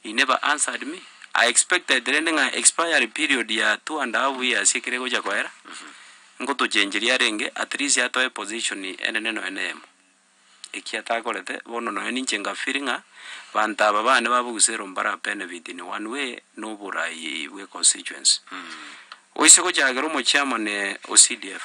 He never answered me, I expected rende ng'a expiry period ya two and a half years ekero egocha koera, ngotochengeria arenge at least atoe position enene nonya na eyemo. Eki atakorete, bono nonya ninche nga feel ng'a abanto aba bane babogusero mbara benefit in one way na oboraai bwe constituency. Goise gochakera omochairman o CDF.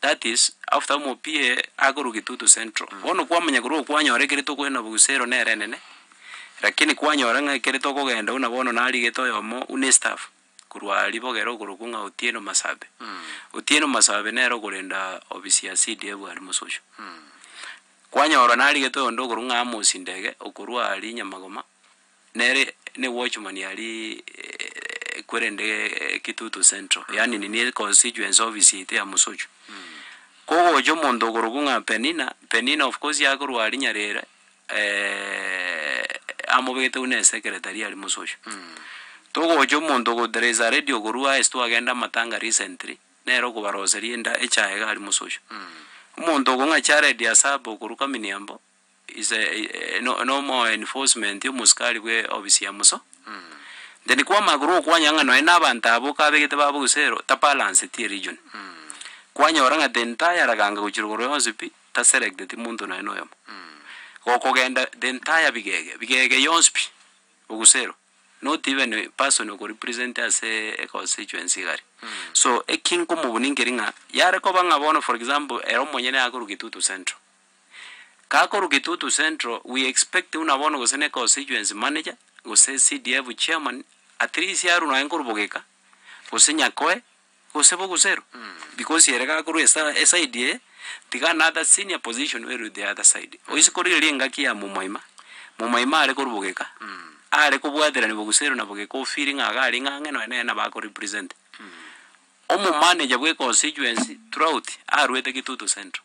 That is, after omopie akorwa Gitutu Central. Bono kwamanya korwa oo kwanyora ekeri tokoenda Bogusero nere enene, lakini kwanyora ng'a ekeri tokogenda buna bono narigete oyomo buna estaff korwa aria bogere okorokwa ng'a Otieno Masabe. Otieno Masabe nere okorenda ofisi ya CDF aria Mososho. Kwanyorwa narigete oyonde okorokwa ng'a Amos Ndege okorwa aria Nyamagoma. Nere ne Watchman ari kwerende Kitutu Central, yaani nini e constituency office yaito ya Musuchu. Kogocha omonto okorokwa ng'a Penina, Penina of course akorwa aria Nyarere, amobegete buna esekeretari aria Musuchu. Togocha omonto ogo there is a lady okorwa aase twagenda amatanga recently, nere okobaroseria enda echae iga aria Musuchu. Omonto ogo ng'a Jared Asaba okorwa Kaminiambo. is a no no more enforcement yo mosikari bwe obisi ya muso then kwama korwa okwanya ng'a nonya nabanto abo kabegete ba bogusero ta balance tie region kwanyora ng'a the entire raganga gochia rogoro yonsi pi ta select ti monto nonya na oyomo gokogenda the entire bigege bigege yonsi pi bogusero not even a person oko represent ase e constituency igare so eki nkomobuni nkeri ng'a yare koba ng'a bono for example ere omonyene akorwa getutu central. Kaa korwa Kitutu Central we expect buna bono gose ne constituency manager gose CDF chairman at least arwe nonye korwa Bogeka gose Nyakoe gose Bogusero because ere gakorwa esa eside eye tiga another senior position where with the other side. Oise korigereria engaki ya Momoima, Momoima are korwa Bogeka are kobwaterani Bogusero na Bogeka ofeeli ng'a iga aringa ang'e nonye nere nabo ako represent. Omo manager bwe constituency throughout arwete Kitutu Central.